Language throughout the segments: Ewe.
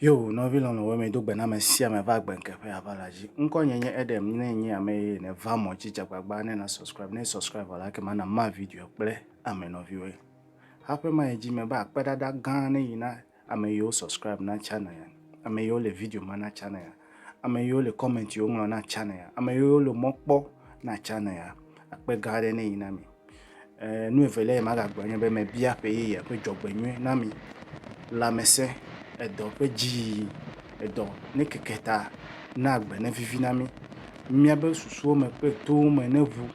Yo, nɔvi lɔlɔ̃ wɔ me do gbe na ame sia ame va gbe nke ƒe ava la dzi. Ŋkɔ nye nye Edem, ne nye ame ye ne va mɔ dzi dzagbagba ne na subscribe, ne subscribe vɔ la ke ma na ma video kple ame nɔviwoe. Haƒe ma ye dzi me ba akpe ɖaɖa gã ne yi na Ame yiwo subscribe na channel ya, ame yiwo le video ma na channel ya, ame yiwo le comment yiwo ŋlɔ na channel ya, ame yiwo le mɔ kpɔ na channel ya, akpe gã aɖe nenyi na mi. Eh, nu evelia yi magagblɔ nye be mebia ƒe yeye ƒe dzɔgbenyui na mi, lãmesẽ, edɔ ƒe dziyiyi, edɔ ne keke ta na agbe ne vivi na mi, míabe susuwo me kple towo me ne ʋu,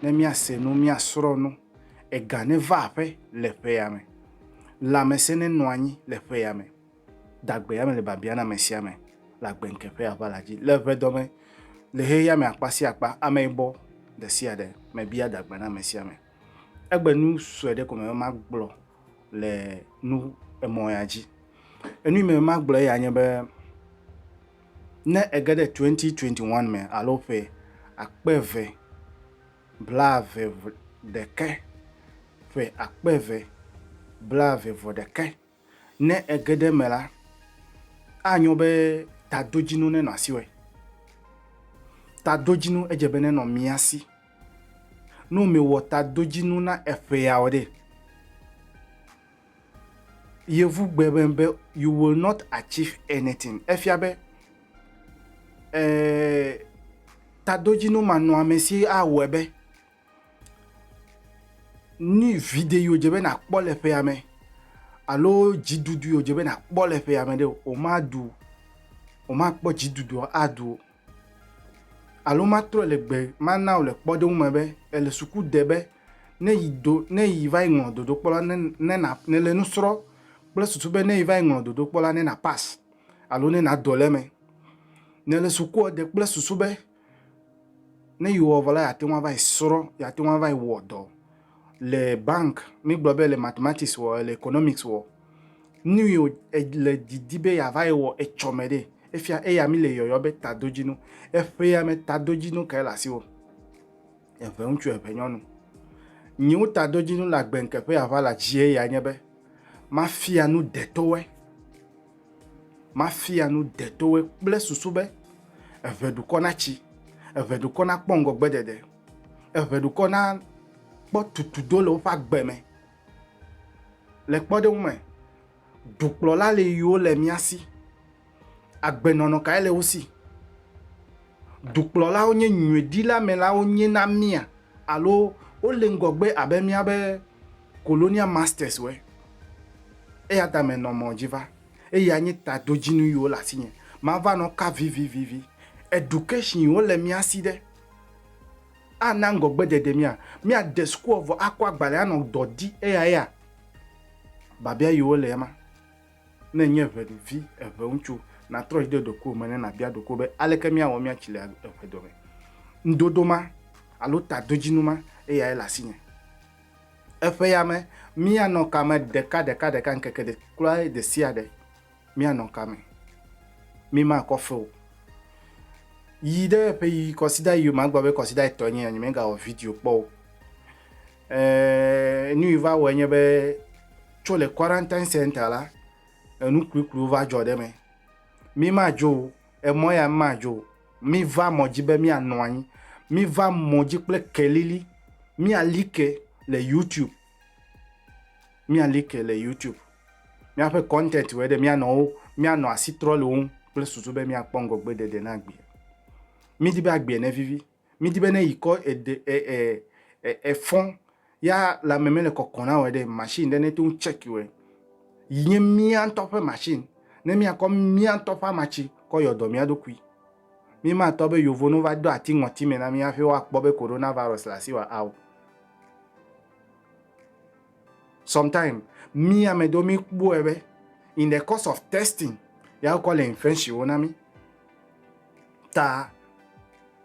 ne míase nu, míasrɔ̃ nu, ega ne va aƒe le ƒea me. Lãmesẽ nenɔ anyi le ƒea me. Dagbea mele biabia na ame sia ame le agbeŋke ƒe aʋala dzi. Le ʋedɔme, le xexea me akpa sia akpa, ameyibɔ ɖe sia ɖe mebia dagbe na ame sia ame. Egbe nu sue ɖe ko mebe magblɔ le nu emɔ ya dzi. Enu yi mebe magblɔ eya nye be, ne ege ɖe 2021 me alo ƒe akpe eve blaeve-vɔ-ɖekɛ, ƒe akpe eve blaeve-vɔ-ɖekɛ. Ne ege ɖe eme la, anyo be tadodzinu nenɔ asiwò. Tadodzinu edze be nenɔ mía si. Ne mewɔ tadodzinu na eƒeawo ɖe, Yevu gbe be be you will not achieve anything. Efia be eh, tadodzinu manɔamesi awɔe be ni vide yi wòdze be nàkpɔ le ƒea me alo dziɖuɖu yi wòdze be nàkpɔ le ƒea me ɖe o, wòmaɖu o, wòmakpɔ dziɖuɖua aɖu o. Alo matrɔe le gbe mana wò le kpɔɖeŋu me be èle suku de be ne yi do ne yi va yi ŋlɔ dodokpɔ la ne ne na nèle nu srɔ̃ kple susu be ne yi va yi ŋlɔ dodokpɔ la ne na pas alo ne nado le eme. Nèle sukua de kple susu be ne yi wɔ vɔ la yeate ŋu ava yi srɔ̃ yeate ŋu ava yi wɔ dɔ Le bank, mígblɔ be le mathematics wɔ, le economics wɔ, nu yi le didi be yeava yi wɔ etsɔ me ɖe, efia eya mi le yɔyɔ be tadodzinu. Eƒea me tadodzinu kae le asiwò? Eŋe ŋutsu eŋe nyɔnu. Nyiwo tadodzinu le agbe ŋke ƒe yeava le adzie ya nye be mafia nu detowe, mafia nu detowe kple susu be eŋe dukɔ natsi, eŋe dukɔ nakpɔ ŋgɔgbe ɖeɖe. Eŋe dukɔ na kpɔ tutudo le woƒe agbe me. Le kpɔɖeŋu me, dukplɔla le yiwo le mía si. Agbenɔnɔ kae le wo si? Dukplɔlawo nye nyuiɖilamelawo nye na mía alo wole ŋgɔgbe abe míabe colonial masters woe? Eya ta menɔ mɔ dzi va. Eyae nye tadodzinu yiwo le asinye. Mava nɔ ka vivivivi. Education yiwo le mía si ɖe? Ana ŋgɔgbedede mía. Míade sukua vɔ akɔ agbalẽ anɔ dɔ di eyaya? Biabia yiwo le ema. Ne ènye eŋevi, eŋeŋutsu, natrɔ dzi de ɖokuiwò me ne nàbia ɖokuiwò be, Aleke míawɔ míatsi le eŋedome? Ŋudodo ma alo tadodzinu ma eyae le asinye? Eƒeya me, míanɔ kame ɖekaɖekaɖeka ŋkeke kura ɖesiaɖe. míanɔ ka me? Mímakɔ fe o. Yi ɖe ƒe yi kɔsida yi yome agblɔ be kɔsida etɔ̃ nye ya nye megawɔ video kpɔ o. Ɛɛ nu yi va wɔe nye be tso le quarantine center la enu klikliwo va dzɔ ɖe me. Mimadzo o, emɔ ya mimadzo o. Miva mɔ dzi be mianɔ anyi. Miva mɔ dzi kple kelili. Miali ke le YouTube. Mía like le YouTube. Míaƒe content wɔe ɖe míanɔ wo, míanɔ asi trɔ le wo ŋu kple susu be míakpɔ ŋgɔgbeɖeɖe na agbea. Mídi be agbea nevivi. Mídi be ne yi kɔ eɖe e e e efɔ ya lãme mele kɔkɔ na wɔe ɖe machine ɖe nete ŋu check wɔe yi nye mía ŋutɔ ƒe machine ne míakɔ mía ŋutɔ ƒe amatsi kɔ yɔ dɔ mía ɖokui. Mímatɔ be yovo no va do ati ŋɔti me na mí hafi woakpɔ be coronavirus le asi wa ao. Sometime, mí ame ɖewo mí kpɔɛ be, in the course of testing, ya wokɔ le infection wo na mí. Ta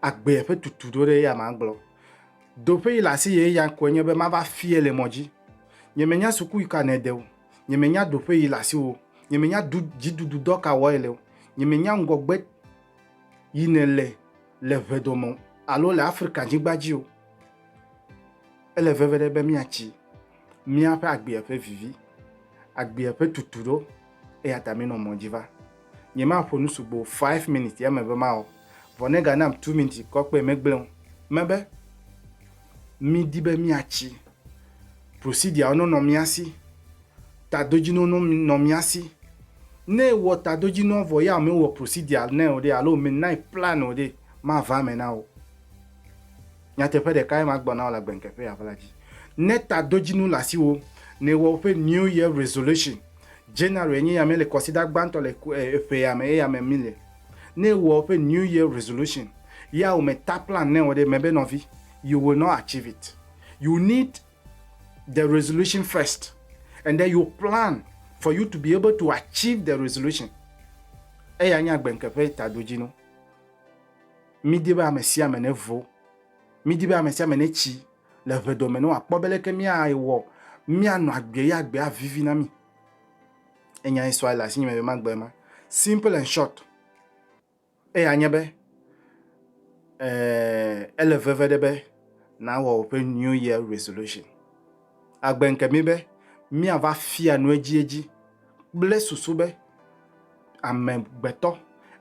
agbea ƒe tutu ɖo ɖe ya ma gblɔ. Do ƒe yi le asi ye ya koe nye be mava fie le mɔ dzi. Nye me nya suku yi ka ne de o. Nye me nya do ƒe yi le asi wo. Nye me nya du dzi dudu dɔ ka wɔ ele o. Nye me nya ŋgɔgbe yi ne le le ʋe dome o alo le Afrika nyigba dzi o. Ele veve ɖe be míatsi míaƒe agbea ƒe vivi, agbea ƒe tutu ɖo, eya ta minɔ mɔ dzi va. Nyemaƒo nu sugbɔ five minutes ya me be mawɔ, vɔ ne ganam two minutes kɔ kpe megblẽ o. Mebe midi be míatsi procedure wo nɔ mía si, tadodzinɔ nɔ mía si. Ne ewɔ tadodzinɔ vɔ ya mewɔ procedure nɛ o ɖe alo menae plan o ɖe, mava eme na wò. Nyateƒe ɖekae magblɔ na wò le agbeŋkeƒe ya ʋla dzi. Ne tadodzinu le asiwò, ne èwɔ woƒe New Year Resolution, January nye yame le kɔsida gbãtɔ le ƒe ya me, eyame mi le. Ne èwɔ woƒe New Year Resolution, ya wò me ta plan nɛ wɔ ɖe eme be nɔvi, you will not achieve it. You need the resolution first and then you plan for you to be able to achieve the resolution. Eya nye agbeŋkeƒe tadodzinu. Mídi be ame sia ame nevo. Mídi be ame sia ame netsi le ʋedoɔ me ne wòakpɔ be leke míawɔ míanɔ agbee ye agbee avivi na mí. Enyae sua le asinye megbe magbe ema. Simple and short. Eya nye be, ee, ele veve ɖe be nàwɔ woƒe New Year Resolution. Agbe ŋke mí be míava fia nu edziedzi kple susu be amegbetɔ,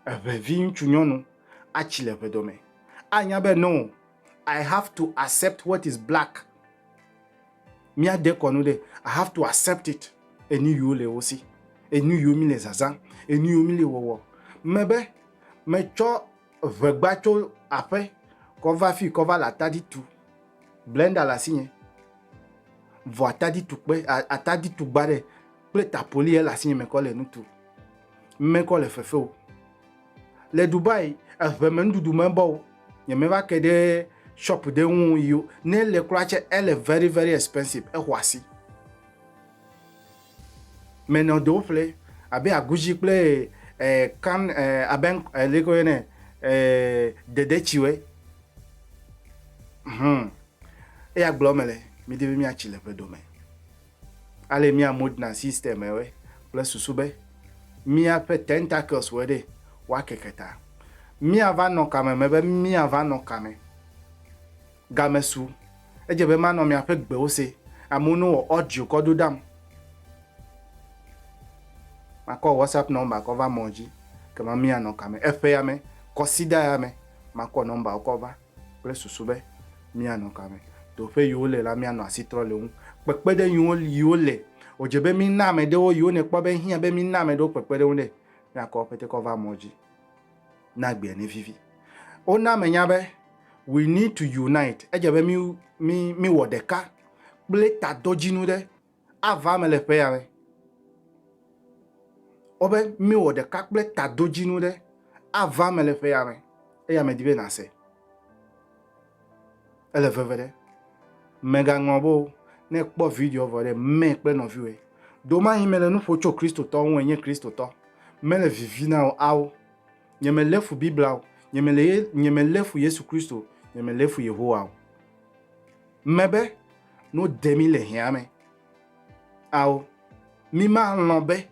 eŋevi ŋutsu nyɔnu, atsi le ʋedɔ me. Anya be no, I have to accept what is black. Mía dekɔnu ɖe, I have to accept it. Enu yiwo le wo si, enu yiwo mi le zazã, enu yiwo mi le wɔwɔ. Me be, me tsɔ ʋegba tso aƒe kɔ va fi kɔ va le atadi tu. Blender le asi nye. Vɔ atadi tu kpe, atadi tu gba ɖe kple tapoli ele asi nye me kɔ le nu tu. Me kɔ le fefeo. Le Dubai eŋe me nuɖuɖu me bɔ wo nye me va ke ɖe shop ɖe ŋu yo ne le kura tse ele very very expensive exɔ asi me nɔ do ƒle abe aguzi kple eh, kan eh, abe eh, leko ye ne eh, dede tsi we hmm eya gblɔ me le mi de mi atsi le ƒe do me Ale mía modern system ewɔe kple susu be míaƒe tentacles wɔe ɖe woakeke ta. Míava nɔ kame me be míava nɔ kame. Game su. Edze be manɔ miaƒe gbewo se. Amewo no wɔ audio kɔ ɖo ɖam. Makɔ WhatsApp number kɔ va mɔ dzi. Kema mía nɔ kame. Eƒe ya me, kɔsida ya me, makɔ number wo kɔ va. kple susu be míanɔ ka me, to ƒe yiwo le la míanɔ asi trɔ le wo ŋu. Kpekpeɖeŋ yiwo yiwo le, wòdze be mína ame ɖewo yiwo nèkpɔ be ehiã be mína ame ɖewo kpekpeɖeŋu ɖe, míakɔ woƒe tekɔ va mɔ dzi ne agbea nevivi. Wona menya be we need to unite, edze be mí mí míwɔ ɖeka kple taɖodzinu ɖe. ava eme le ƒe ya me. Wobe míwɔ ɖeka kple tadodzinu ɖe ava eme le ƒe ya me eya medi be nàse. Ele veve ɖe. Mègaŋlɔ be o, ne kpɔ video vɔ ɖe mɛ kple nɔviwòe. Domanyi mele nu ƒo tso Kristotɔ ŋu enye Kristotɔ. Mele vivi na o ao. Nyemelé fu Biblia o. Nyemelé fu Yesu Kristo o. Nyemelé fu Yehowa o. Mebe no de mí le hea me. Ao, mí ma lɔ̃ be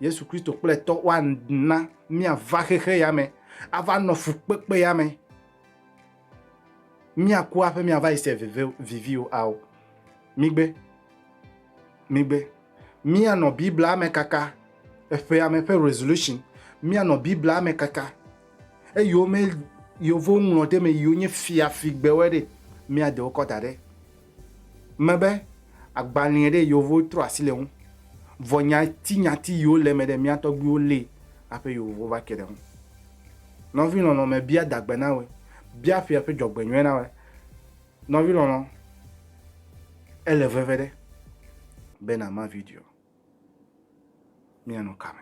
Yesu Kristo kple tɔ wa na mía va xexe ya me, a va nɔ fukpekpe ya me. Mía ku aƒe mía va yi se vive, vivi o. Ao, mí gbe, mí gbe. Mía nɔ Biblia me kaka, eƒe ame ƒe resolution, mía nɔ Biblia me kaka, Eyiwo me yewo ŋlɔ ɖe me yiwo nye fiafigbewoe ɖe mía de wokɔ da ɖe me be agbalẽe ɖe yewo trɔ asi le ŋu. Vɔ nyatinyati yiwo le eme ɖe mía tɔgbuiwo li hafi yewo va ke ɖe ŋu. Nɔvi lɔlɔ me bia dagbe na wòe, bia ƒea ƒe dzɔgbenyuie na wòe. Nɔvi lɔlɔ, ele veve ɖe be nàma video. Míanɔ kame.